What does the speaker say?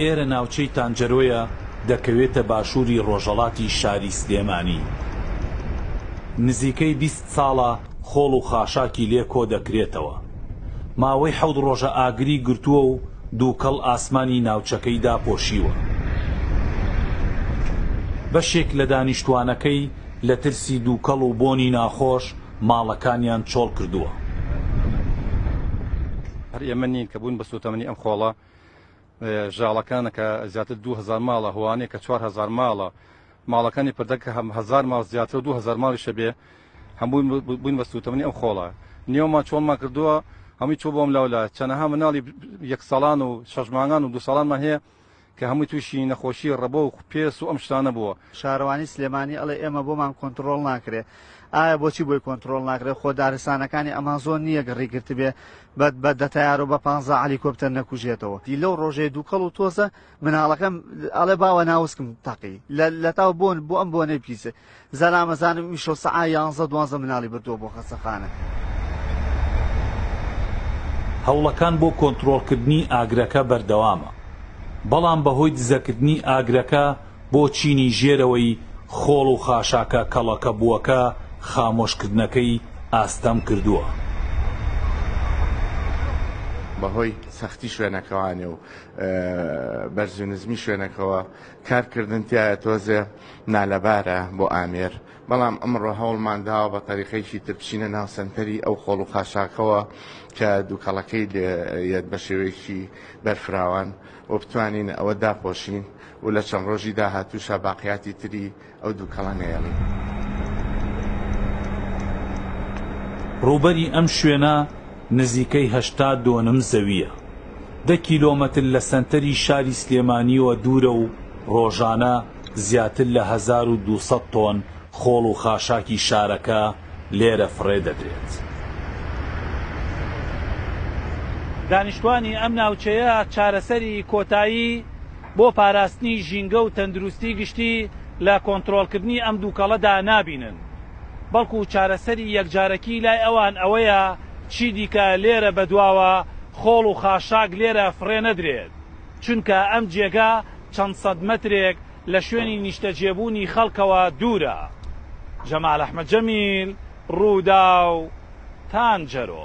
ئێرە ناوچەی تانجەرۆیە دەکەوێتە باشووری ڕۆژەڵاتی شاری سلێمانی نزیکەی بیست ساڵە خۆڵ و خاشاکی لێ کۆ دەکرێتەوە ماوەی حەوت ڕۆژە ئاگری گرتووە و دووکەڵ ئاسمانی ناوچەکەی داپۆشیوە بەشێک لە دانیشتووانەکەی لە ترسی دووکەڵ و بۆنی ناخۆش ماڵەکانیان چۆڵ کردووە. هەر ئێمە نین کە بووین بە سووتەمەنی ئەم خۆڵە ژاڵەکانە کە زیاتر دوو هەزار ماڵە، هۆانەیە کە چوار هەزار ماڵە، ماڵەکانی پردە کە هەم هەزار ماڵ زیاتر و دوو هەزار ماڵیش هەبێ، هەمووی بووین بە سووتەمەنی ئەم خۆڵە. نێومان چۆڵمان کردووە، هەمووی چووە بۆ ئەملاولا. چەنەها مناڵی یەک ساڵان و شەش مانگان و دوو ساڵانمان هەیە، کە هەمووی تووشی نەخۆشی ڕەبۆ و پێست و ئەم شتانە بووە. شارەوانی سلێمانی ئەڵێ ئێمە بۆمان کۆنتڕۆڵ ناکرێ ئایا بۆچی بۆی کۆنتڕۆڵ ناکرێ خۆ دارستانەکانی ئەمازۆن نییە گڕی گرتبێ بە بە دە تەیارە و بە پانزا عەلیکۆپتەر نەکوژێتەوە دی لەو ڕۆژەی دووکەڵ و تۆزە مناڵەکەم ئەڵێ باوە ناوسکم تەقی لە لەتاو بۆن بۆ ئەم بۆنەی پیسە زەرامەزانم ئیمشەو سەعا یانزە دوانزە مناڵی بردووە بۆ خەستەخانە. هەوڵەکان بۆ کۆنترۆڵکردنی ئاگرەکە بەردەوامە، بەڵام بەهۆی دزەکردنی ئاگرەکە بۆ چینی ژێرەوەی خۆڵ و خاشاکە کەڵەکەبووەکە خامۆشکردنەکەی ئاستەم کردووە. بەهۆی سەختی شوێنەکەوانێ و بەرزو نزمی شوێنەکەوە کارکردن تیایە تۆزێ نالەبارە بۆ ئامێر، بەڵام ئەمڕۆ هەوڵمان داوە بە تەریقەیەکی تر بچینە ناو سەنتەری ئەو خۆڵ و خاشاکەوە کە دووکەڵەکەی لێیەت بە شێوەیەکی بەرفراوان و بتوانین ئەوە داپۆشین و لە چەند ڕۆژی داهاتووشە باقیاتی تری ئەو دووکەڵە نەیەڵین. ڕووبەری ئەم شوێنە، نزیکەی هەشتا دۆنم زەوییە، دە کیلۆمەتر لە سەنتەری شاری سلێمانییەوە دوورە و ڕۆژانە زیاتر لە هەزار و دوو سەد تۆن خۆڵ و خاشاکی شارەکە لێرە فڕێ دەدرێت. دانیشتووانی ئەم ناوچەیە چارەسەری کۆتایی بۆ پاراستنی ژینگە و تەندروستی گشتی لە کۆنترۆڵکردنی ئەم دووکەڵەدا نابینن. بەڵکو چارەسەری یەکجارەکی لای ئەوان ئەوەیە چیدیکە لێرە بەدواوە خۆڵ و خاشاک لێرە فڕێ نەدرێت، چونکە ئەم جێگە چەند سەد مەترێک لە شوێنی نیشتەجێبوونی خەڵکەوە دوورە. جەمال ئەحمەد جەمیل، رووداو، تانجەرۆ.